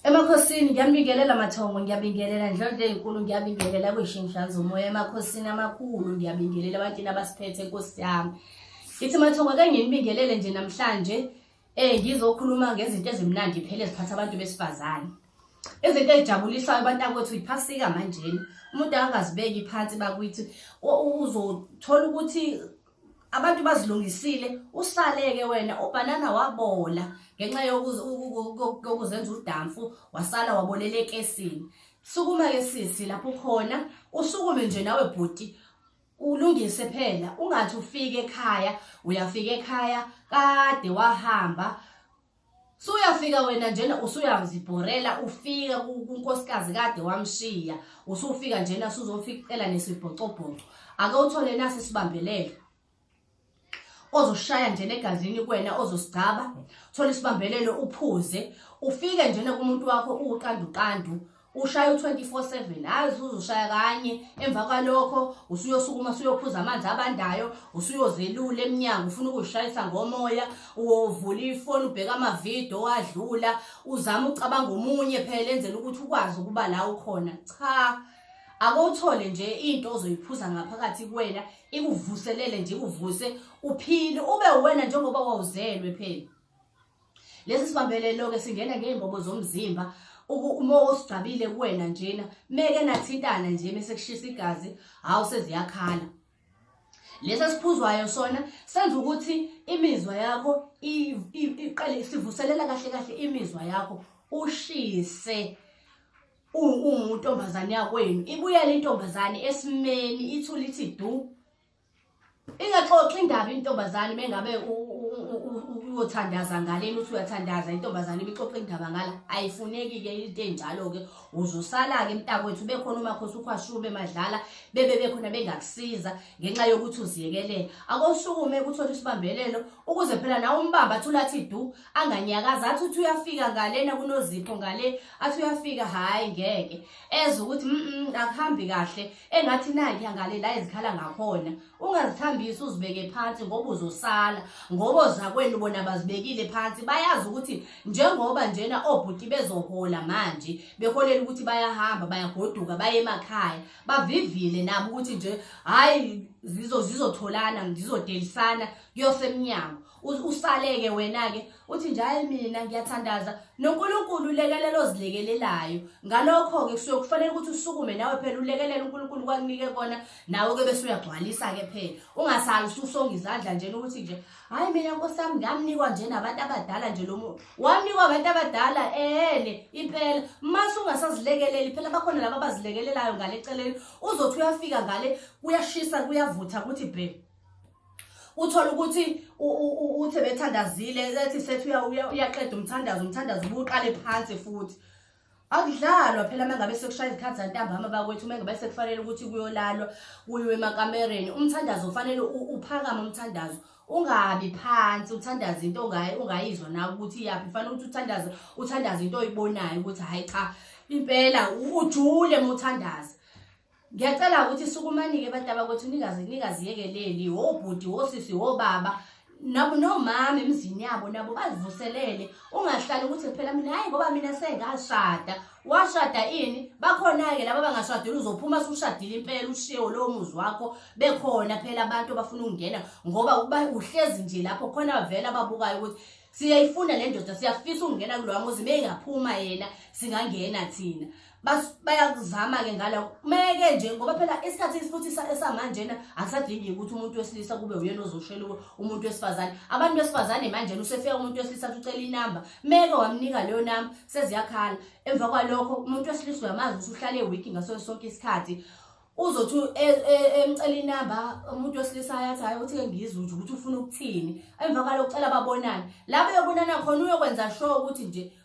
emakhosini ngiyambingelela mathongo ngiyabingelela ndlondle enkulu ngiyabingelela kuyishingihlanza umoya emakhosini amakhulu ngiyabingelela abantini abasiphethe nkosi yami ithi mathongo ake nginibingelele nje namhlanje um ngizokhuluma ngezinto ezimnandi phela eziphatha abantu besifazane izinto ezijabulisayo abantu akwethu iphasika manjeni umuntu angazibeki phansi bakuthi uzothola ukuthi abantu bazilungisile usaleke wena ubhanana wabola ngenxa yokuzenza udamfu wasala wabolela ekesini sukuma ke sisi lapho khona usukume nje nawe bhuti ulungise phela ungathi ufike ekhaya uyafika ekhaya kade wahamba suyafika wena njena usuyazibhorela ufika kunkosikazi kade wamshiya usufika njena suzofikela nesibhocobhoco ake uthole nasi sibambelele ozoshaya njena egazini kwena ozosigcaba thola isibambelelo uphuze ufike njena kumuntu wakho uqanduqandu ushaya u-24/7 hayi usuzoshaya kanye emva kwalokho usuyosukuma usuyophuza amanzi abandayo usuyozelula emnyango ufuna ukuzishayisa ngomoya uvula ifoni ubheka amavidiyo owadlula uzama ucabanga omunye phela enzela ukuthi ukwazi ukuba la ukhona cha akowuthole nje into ozoyiphuza ngaphakathi kuwena ikuvuselele nje ikuvuse uphile ube wena njengoba wawuzelwe phela lesi sibambelelo-ke singena ngey'mbobo zomzimba uma osigcabile kuwena njena meke nathintana nje mese kushisa igazi hawu seziyakhala lesi esiphuzwayo sona senza ukuthi imizwa yakho iqale sivuselela kahle kahle imizwa yakho ushise ungumuntu ombazane yakwenu ibuyela intombazane esimeni ithula ithi du ingaxoxi indaba intombazane mengabe uyothandaza ngaleni uthi uyathandaza intombazane ibixoxa indaba ngala ayifuneki-ke into enjalo-ke uzosala-ke mntakwethu bekhona umakhosi ukhwashube madlala bebe bekhona bengakusiza ngenxa yokuthi uziyekelele akosukume kuthole isibambelelo ukuze phela nawe umbamba athula athi du anganyakazi athi uthi uyafika ngalena kunozipho ngale athi uyafika hhayi ngeke ezwe ukuthi mm akuhambi kahle engathi nayi yangale la izikhala ngakhona ungazithambisi uzibeke phansi ngoba uzosala ngoba ozakwenu bona bazibekile phansi bayazi ukuthi njengoba njena obhuti bezohola manje beholela ukuthi bayahamba bayagoduka baye emakhaya bavivile nabo ukuthi nje hayi zizotholana zizodelisana kuyosemnyango usaleke wena-ke uthi njalo mina ngiyathandaza nonkulunkulu ulekelela ozilekelelayo ngalokho-ke kusuke kufanele ukuthi usukume nawe phela ulekelele unkulunkulu kwakunike kona nawe-ke bese uyagcwalisa-ke phela ungasali ususonga izandla njena ukuthi nje hhayi mina nkosi yami ngamnikwa nje nabantu abadala nje lo muntu wamnikwa abantu abadala ehene impela mase ungasazilekeleli phela bakhona laba abazilekelelayo ngale celeni uzothi uyafika ngale kuyashisa kuyavutha kuthi bhe uthole ukuthi uthe bethandazile ethi sethi uyaqeda umthandazo umthandazo ubuqale phansi futhi akudlalwa phela uma ngabe sekushaya izikhathi zantambama bakwethu uma ngabe sekufanele ukuthi kuyolalwa kuyiwe emakamereni umthandazo ufanele uphakame umthandazo ungabi phansi uthandaza into ongayizwa nawe ukuthi iyaphi kufanele ukuthi uthandaze uthandaze into oyibonayo ukuthi hhayi cha impela ujule uma uthandaza ngiyacela ukuthi sukumanike abantu abakwethu ningaziyekeleli wobhuti wosisi wobaba nabo nomama emzini yabo nabo bazivuselele ungahlali ukuthi phela mina hayi ngoba mina sengashada washada ini bakhona-ke laba bangashadile uzophuma sushadile impela ushiyewo lowo muzi wakho bekhona phela abantu abafuna ukungena ngoba uba uhlezi nje lapho khona vele ababukayo ukuthi siyayifuna le ndoda siyafisa ukungena kulowa muzi uma engaphuma yena singangena thina bayakuzama-ke ngalako kumeke nje ngoba phela isikhathi futhi esamanjena akusadingi ukuthi umuntu wesilisa kube uyena ozoshela umuntu wesifazane abantu besifazane manjena usefika umuntu wesilisa athi ucela inamba meke wamnika leyo namba seziyakhala emva kwalokho umuntu wesilisa uyamazi ukuthi uhlale ewiki ngaso sonke isikhathi uzothi e, e, emcela inamba umuntu wesilisa ayathi hayi ukuthi ke ngizwe nje ukuthi ufuna ukuthini emva kwalokho ucela babonane la beyobonana khona uyokwenza sure ukuthi nje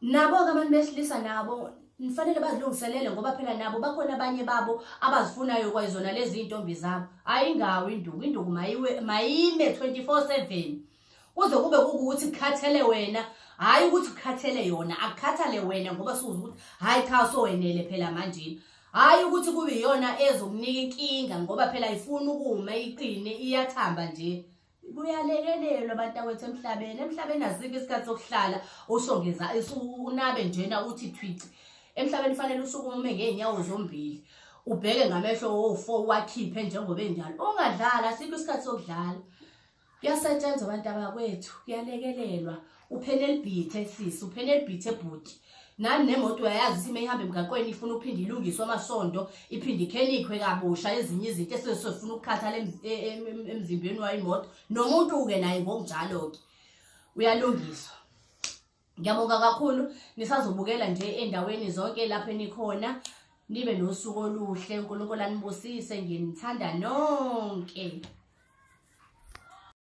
Nabo-ke abantu besilisa nabo nifanele bazilungiselele ngoba phela nabo bakhona abanye babo abazifunayo kwayizona lezi iy'ntombi zabo hhayi ingawo induku induku mayime 24 7 kuze kube kukuthi kukhathele wena hhayi ukuthi kukhathele yona akukhathale wena ngoba sukuze ukuthi hhayi cha sowenele phela manjini hhayi ukuthi kube iyona ezokunika inkinga ngoba phela ifuna ukuma iqine iyathamba nje kuyalekelelwa bantakwethu emhlabeni emhlabeni asikho isikhathi sokuhlala usho ngeza unabe njena uthi thwici emhlabeni fanele usukume ngeenyawo zombili ubheke ngamehlo wofo wakhiphe njengoba enjalo ungadlala asikho isikhathi sokudlala kuyasetshenzwa abantu abakwethu kuyalekelelwa uphele elibhithe sisi uphele elibhithe bhuti nani nemoto uyayazi ukuthi uma ihamba emgaqweni ifuna uphinde ilungiswe amasondo iphinde ikhelikhwe kabusha ezinye izinto esesifuna ukukhathala emzimbeni wayo imoto nomuntu-ke naye ngokunjalo-ke uyalungiswa ngiyabonga kakhulu nisazobukela nje endaweni zonke lapho enikhona nibe nosuku oluhle unkulunkulu anibusise nginithanda nonke